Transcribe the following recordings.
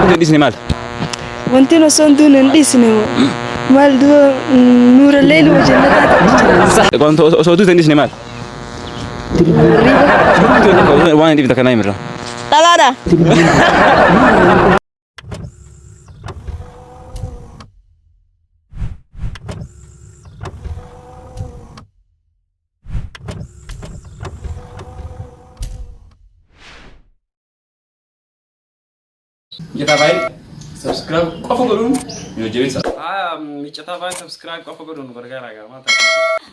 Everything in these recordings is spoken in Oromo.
Wanti dhisne maal? Wanti osoo hin duune hin dhiisne moo? Maal du'a nuurallee ilma jannataa ta'u jira. Wanti osoo duute hin dhisne maal? Waan hin dhibne takka naa himirra. Dhalaadha. Mijataa baay'ee subscribe qofa godhuun nu jajjabeessa. Haa mijataa baay'ee subscribe qofa godhuun nu gargaaraa gaamaa taasisu.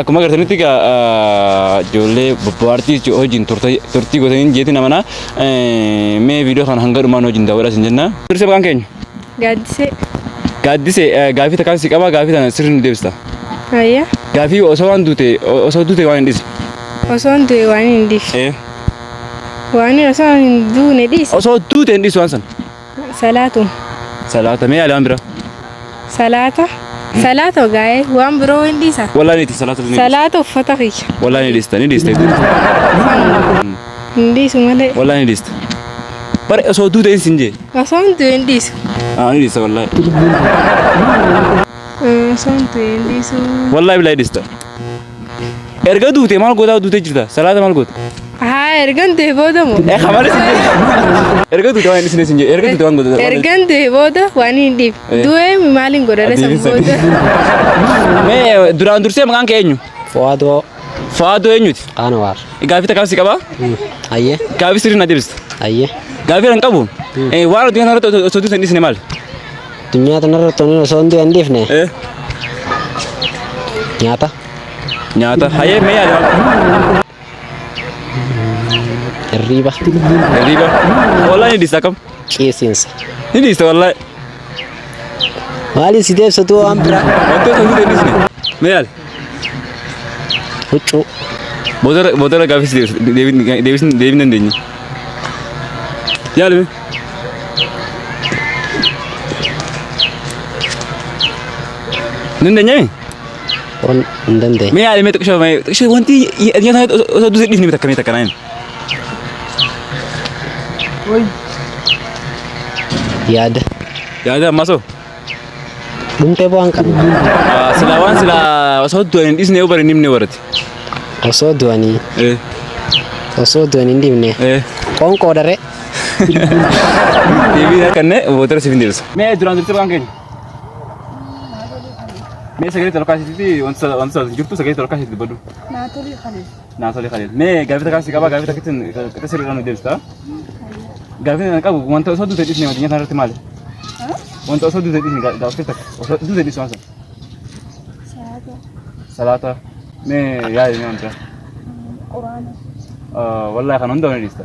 Akkuma agartanitti egaa ijoollee bobbaartii jechuudha hojiin turtii gootaniin jeetiin amanaa mee viidiyoo kana hanga dhumaan hojiin daawwadhaa isin jenna. Dursee maqaan keenya? Gaaddisee. Gaaddisee gaafii takkaan si qabaa gaafii tana sirri nu deebista. Ayyaa. Gaafii osoo waan duute osoo duute waan hin dhiise. Osoo hin du'e waan hin dhiise. Waan osoo hin duune dhiise. Osoo duute hin dhiisu waan sana. Salaatu. Salaata mee yaali waan biraa. Salaata. Salaata ogaa'ee waan biroo hin dhiisa. Walaa ni dhiisa salaata ni dhiisa. Salaata uffata kiyya. Walaa ni dhiista ni dhiista. Hin dhiisu malee. Walaa ni dhiista. Bara osoo duute hin sin jee. Osoo hin du'e hin dhiisu. Aa ni dhiista walaa. Osoo hin du'e hin dhiisu. Walaa bilaa ni dhiista. Erga duute maal gootaa duute jirta? Salaata maal goota? Haa ergan du'e booda moo? Eh kamale sin jedhe. Erga duute waan isin sin jedhe. Erga duute waan goota. Ergan du'e booda waan hin dhiif. Eh. Du'e maaliin godha resan Adiin sadi. booda? Mee duraan dursee maqaan kee eenyu? Fuwaadoo Faadoo eenyuti? Qaanawaar. Gaafii takkaaf si qabaa? Ayyee. Gaafii sirrii na deebista. Ayyee. Gaafii hin qabu. Eh waan addunyaa kanarratti osoo duute hin dhiisne maali? Addunyaa tanarratti wanni osoo hundi hin dhiifne Eh, nyaata. nyaata. Hayee mee yaada maal? Hirriiba. Hirriiba. Wallahi ni dhiista akkam? Qiisiinsa. Ni dhiista wallahi. Maaliin si deebisatu waan biraa? Wantoota hundi hin dhiisne. Mee yaali. Huccuu. Boodarra boodarra gaafis deebin deebin deebin dandeenya. Yaalime. Dandeenyami? Waan hin dandeenye. Mee yaalime xiqshoo mee xiqshoo wanti nyaata osoo duusi dhiifni takka mee takka naan. Yaada. Yaada ammaa soo. Dhumtee bu'aan kan Silaa waan silaa osoo du'an hin dhiisne yoo bari hin himne barate. osoo du'anii Eh, osoo du'an hin dhibne eh. qoonqoo daree Deebii na kenne boodara siif hin deebisa. Mee duraan jirtu waan keenya. Mee sagalee tolkaasitti wanta wanta jirtu sagalee tolkaasitti badu. Naatolii kana. naa tole kaleef mee gaaffii takkaa si qabaa gaaffii takkittiin qixa sirriidhaan nu deebista gaaffii kana qabu wanta osoo duute dhiisne addunyaa kana irratti maali wanta osoo duute dhiisne gaa- gaaffii takka osoo duute dhiisne waan sana Salaata. salaata mee yaadi mee wanta Quraana. wallahi kan hunda ni dhiista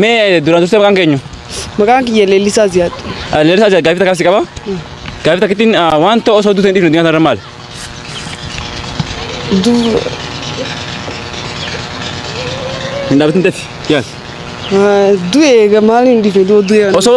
Mee duraan dursee maqaan keenyu? Maqaan kiyya Leellisaa Ziyaad. Leellisaa Ziyaad gaaffii takkaas qaba. Gaaffii takkittiin wanta osoo duuteen dhiifne addunyaa kanarra maali? Hin dhaabatin dati yaal. Du'e maaliin dhiifne du'e. Osoo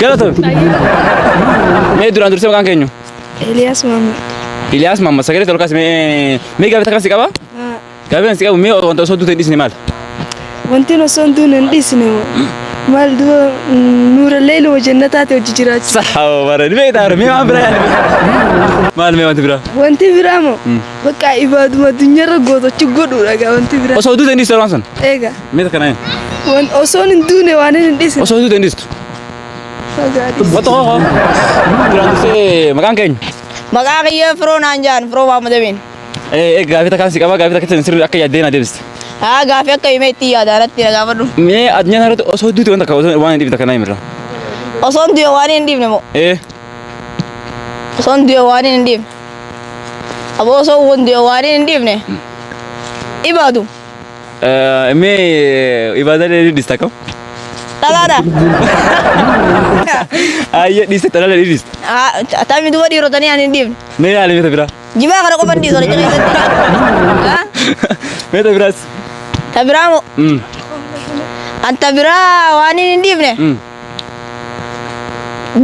Galatoon. Mee duraan dursee maqaan keenyu? Eliyaas Maamud. Iliyaas Maamma sagalee tolkaas mee mee gaafata kan si qaba? Gaafata kan si qabu mee wanta osoo duuteen dhiisne maal? Wanti osoo hin duune hin dhiisne moo? Maal dura nuurallee ilma jannataati hojii jiraachisa. Sahaaba bara ni beektaa bara mee waan biraa yaadne. Maal mee wanti biraa? Wanti biraa moo? Bakka ibaaduma addunyaarra gootochi godhuudha gaa wanti biraa. Osoo duuteen dhiisne waan sun. Eegaa. Mee takka naayin. Wan osoon hin duune waan hin dhisin. Osoo hin duute hin dhistu. Wanta koo koo. Duraan dursee maqaan keenya. Maqaa kiyya firoo naan jaan firoo Maamud Amiin. Ee gaafii takkaan si qaba gaafii takka keessan sirrii akka yaaddee na deebiste. Haa gaafii akka himee itti yaada irratti na gaafadhu. Mee addunyaa kana irratti osoo duute wanta akka osoo waan hin dhiifne takka naayin irraa. Osoon du'e waan hin dhiifne moo? Ee Osoon du'e waan hin dhiifne. Aboo osoo kun du'e waan hin dhiifne. Dhibaatu. Mee ibaada dheedhii dhista kam? Dhalaadha. Ayyee dhiste talala dheedhii dhiste. Tammi duba dhiirotanii ani hin dhiifne. Mee yaali meeta biraa. Jibaa kana qofa hin dhiisu ani jira keessatti. Meeta biraas. Ta biraa moo? Mm. An ta biraa waan hin dhiifne. Mm.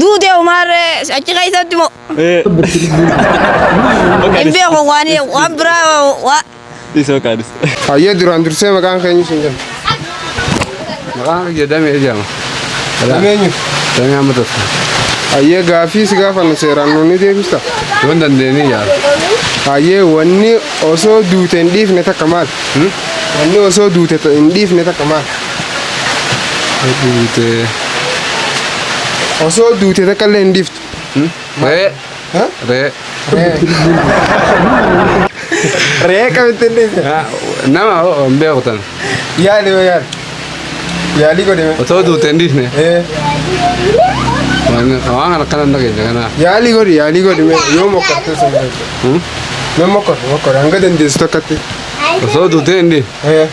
Duutee umaarree achi keessatti moo? Eh. Bakka Hin dhis- beeku waan waan biraa waa- Dhis maqaa dhis. Hayyee duraan dursee maqaan keenya isin jenna. Maqaan kiyya damee jedhama. Dameenyu. Damee amma tokko. Hayyee gaaffii si gaafannu seeraan nuun ni deebista. Yoo hin dandeenye yaala. Hayyee wanni osoo duute hin dhiifne takka maal? Wanni osoo duute ta- hin dhiifne takka maal? Duute. Osoo duute takka illee hin dhiiftu. Re'ee. Ree. Ree kamittiin dhiise. Ah, Nama hoo hin beeku tan. Yaali yoo yaali. Yaali godhe. Otoo duute hin dhiifne. Eh, Waan waan kana akkana hin dhageenye kana. Yaali godhi yaali godhi mee yoo mokkortee sun godhi. Hmm? Mee mokkor mokkor hanga dandeessu tokkotti. Otoo duute hin dhiifne. Eh,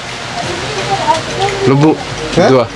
Lubbuu. Eh? Du'a.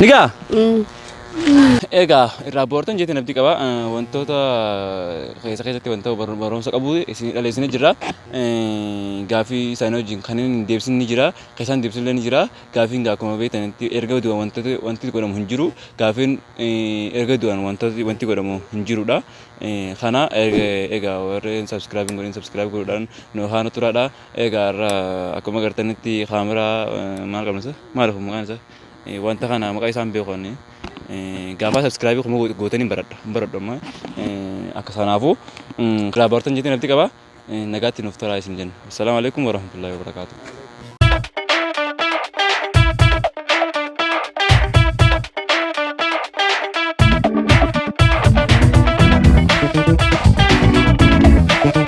Nigaa? Egaa irraa boortan jeetiin abdii qaba. Eh, Wantoota eh, keessa keessatti wanta bar- barumsa qabu isin dhaleessine jira. Eh, Gaafii isaanii wajjin kan hin deebisin ni jira. Keessaan deebisin illee ni jira. Gaafiin gaa akkuma beektanitti erga du'an wantoota wanti godhamu hin jiru. Gaafiin eh, erga du'an wantooti wanti godhamu hin jirudha. Eh, Kana erga- egaa warreen subscribe hin godhin subscribe godhuudhaan nu haana turaadha. Egaa har'a akkuma agartanitti kaameraa maal qabna isa maal kun maqaan isa wanta kana maqaa isaan beeku ani gaafaa sabskraabii kuma gootanii baradha baradhu amma akka sanaafuu kiraa baartan jettee nafti qaba nagaatti nuuf taraa isin jenna. Assalaamu alaikum warahmatullahi wabarakaatuh.